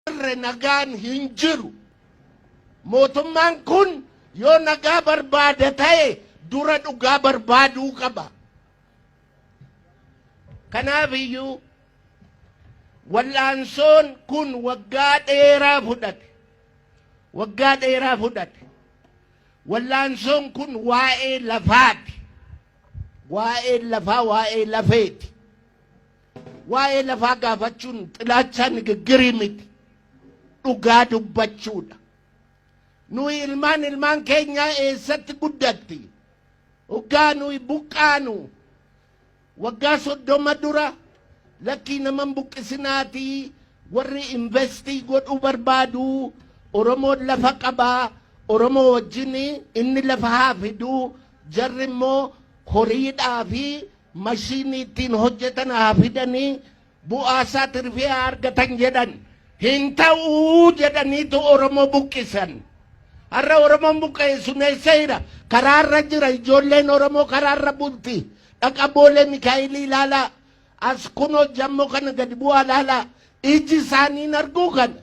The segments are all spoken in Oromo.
jirre nagaan hin jiru. Mootummaan kun yoo nagaa barbaada ta'e dura dhugaa barbaaduu qaba. Kanaaf iyyuu wal'aansoon kun waggaa dheeraa fudhate. Waggaa dheeraa fudhate. Wal'aansoon kun waa'ee lafaati. Waa'ee lafaa waa'ee lafeeti. Waa'ee lafaa gaafachuun xilaachaa nigiggirii miti. Dhugaa dubbachuudha. Nuyi ilmaan ilmaan keenyaa eessatti guddatti? Hoggaa nuyi buqqaanu waggaa soddoma dura lakkii naman buqqisinaatii warri investii godhuu barbaadu Oromoon lafa qabaa Oromoo wajjin inni lafa haa fiduu jarri immoo horiidhaa fi mashiinii ittiin hojjetan haa fidanii bu'aa isaa tirfii haa argatan jedhan hin ta'uu jedhaniitu Oromoo buqqisan. Har'a Oromoon buqqa'e suneessee jira. Karaarra jira ijoolleen Oromoo karaarra bulti. Dhaqa boolee Mikaa'ilii ilaalaa. As kunoo jammoo kana gadi bu'aa ilaalaa. Iji isaaniin arguu kana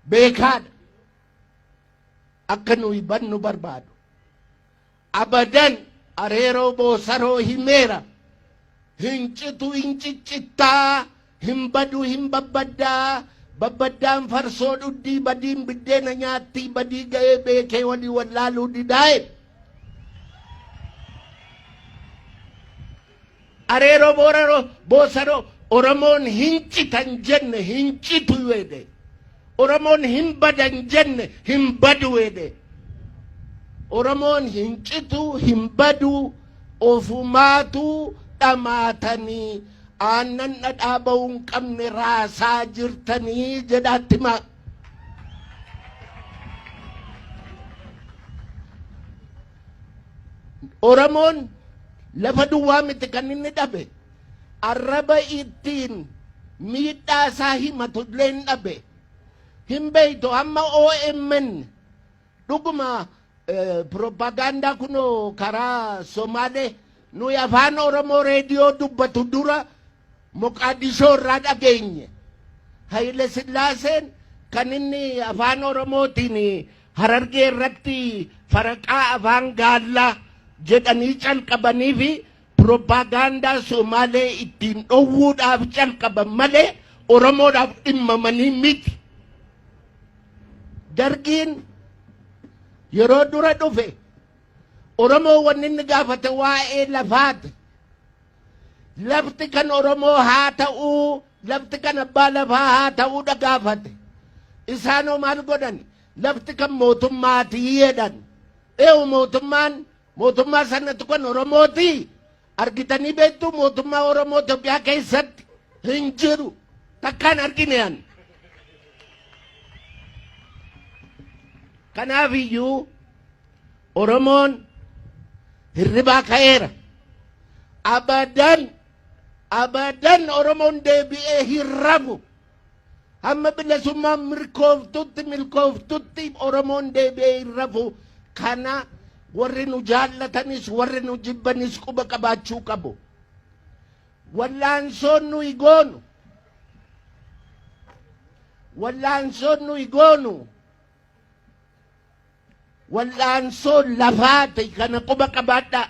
beekaadha. Akka nuyi bannu barbaadu. Abadan Areeroo Boosaroo himeera. Hin citu hin ciccitta, hin badu hin babbadda, babbaddaan farsoo dhuddii, badiin biddeena nyaatti, badii ga'ee beekee walii wallaaluu didaa jedhe. Areeroo Booranoo Boosanoo Oromoon hin citan jenne hin citu jedhe. Oromoon hin badan jenne hin badu jedhe. Oromoon hin citu hin badu ofumaatu dhamaatanii aannan dhadhaa ba'uu hin qabne raasaa jirtanii jedhaatti maa. Oromoon lafa duwwaa miti kan inni dhabe arraba ittiin miidhaa isaa himatu illee hin dhabe. Hin beeytu amma OMN dhuguma pirooppaagaandaa kunoo karaa Somaalee nuyi afaan Oromoo reediyoo dubbatu dura Moqaadishoo irraa dhageenye. Hayile Sillaaseen kan inni afaan Oromootiin Harargee irratti faraqaa afaan gaallaa jedhanii calqabanii fi piropaagaandaa Somaalee ittiin dhowwuudhaaf calqaban malee Oromoodhaaf dhimmamanii miti. Dargiin yeroo dura dhufe Oromoo wanni inni gaafate waa'ee lafaati. Lafti kan Oromoo haa ta'uu Lafti kan abbaa lafaa haa ta'uudha gaafate. Isaanoo maal godhan? Lafti kan mootummaati jedhan. Eewu mootummaan mootummaa sanatu kan Oromooti. Argitanii beektuu mootummaa Oromoo Itoophiyaa keessatti hin jiru. Takkaan argine an. Kanaaf iyyuu Oromoon hirribaa ka'eera. Abadan Abadan Oromoon deebi'ee hin rafu. Hamma bilisummaan mirkooftutti milkooftutti Oromoon deebi'ee hin rafu. Kana warri nu jaallatanis warri nu jibbanis quba qabaachuu qabu. Wallaansoon nuyi goonu wallaansoon nuyi goonu Wal'aansoo lafaa ta'e kana quba qabaadhaa.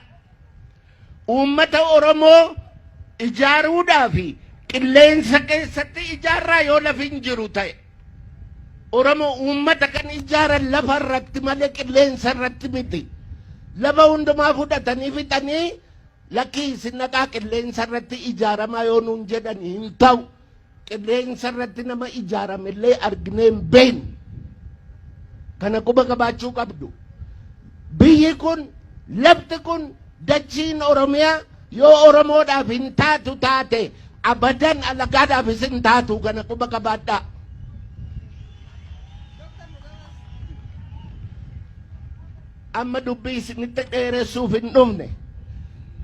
Uummata Oromoo ijaaruudhaa fi qilleensa keessatti ijaarraa yoo lafi hin jiru ta'e. Oromoo uummata kan ijaaran lafa irratti malee qilleensa irratti miti. Lafa hundumaa fudhatanii fixanii lakkii isin dhaqaa qilleensa irratti ijaaramaa yoo nuun jedhan hin ta'u. Qilleensa irratti nama ijaarame illee arginee hin beeknu. Kana quba qabaachuu qabdu. Biyyi kun, lafti kun, dachiin Oromiyaa yoo Oromoodhaaf hin taatu taate abadan alagaadhaafis hin taatu kana quba qabaadhaa. Amma dubbii isinitti dheeressuuf hin dhufne.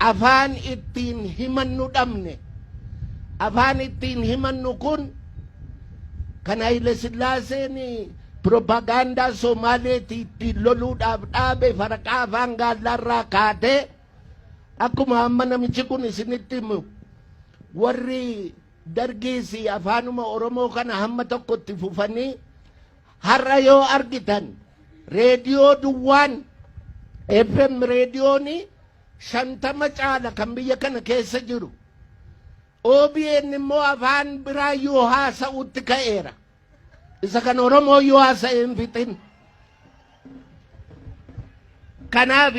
Afaan ittiin himannu dhabne. Afaan ittiin himannu kun kan Hayile Sillaaseen piroopagaandaa Somaaleetii ittiin loluudhaaf dhaabe faraqaa afaan gaallaarraa kaatee akkuma amma namichi kun isinitti himu warri dargiis afaanuma Oromoo kana hamma tokkotti fufanii Har'a yoo argitan reediyoo duwwaan FM reediyoonii shantama caala kan biyya kana keessa jiru. OBN immoo afaan biraa yoo haasa'utti ka'eera. Isa kan Oromoo yoo haasa'e hin fixin. Kanaaf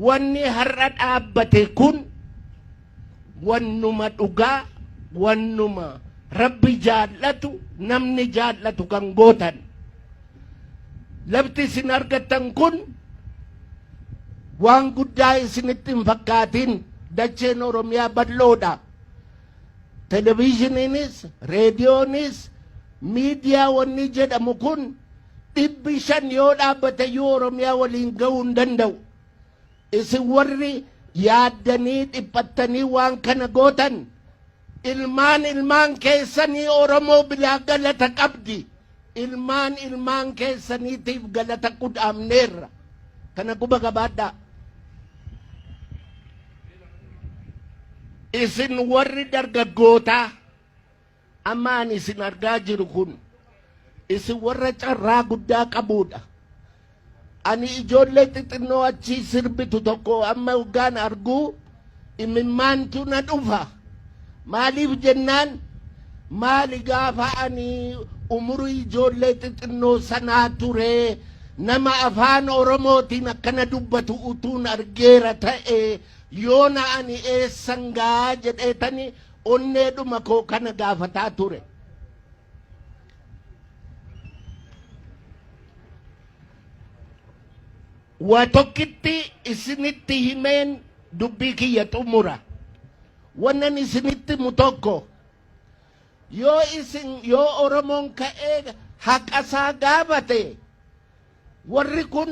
wanni har'a dhaabbate kun wannuma dhugaa wannuma rabbi jaallatu namni jaallatu kan gootan lafti isin argattan kun waan guddaa isinitti hin fakkaatin dacheen oromiyaa bal'oodha Televiizhiniinis, reediyoonis, miidiyaa wanni jedhamu kun dhibbi shan yoo dhaabbatayyuu Oromiyaa waliin gahuu hin danda'u. Isin warri yaaddanii dhiphattanii waan kana gootan ilmaan ilmaan keessanii Oromoo biraa galata qabdi. Ilmaan ilmaan keessaniitiif galata qudhaamneerra. Kana quba qabaadhaa. Isin warri dargaggootaa amma ani isin argaa jiru kun isin warra carraa guddaa qabuudha. Ani ijoollee xixinnoo achi sirbitu tokko amma hoggaan argu imimmaantu na dhufa. Maaliif jennaan maali gaafa ani umurii ijoollee xixinnoo sanaa ture nama afaan Oromootiin akkana dubbatu utuun argeera ta'e yoona ani eessan ga'a jedheetani onneedhuma koo kana gaafataa ture. waa tokkitti isinitti himeen dubbii kiyya xumura wannan isinitti mu tokko yoo isin yoo oromoon ka'ee haqasaa gaafate warri kun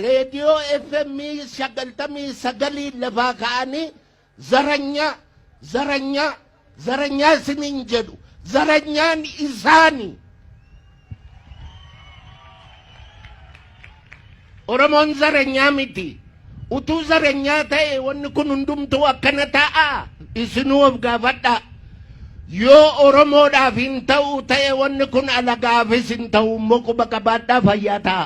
reediyoo fm sagaltamii sagaliin lafaa ka'anii Zaranyaa zaranyaa zaranyaa isiniin jedhu zaranyaan isaani. Oromoon zaranyaa miti. Utuu zaranyaa ta'e wanni kun hundumtuu akkana ta'a isinuu of gaafadha. Yoo Oromoodhaaf hin ta'u ta'e wanni kun alagaafis hin ta'u immoo quba qabaadhaa fayyaa ta'a.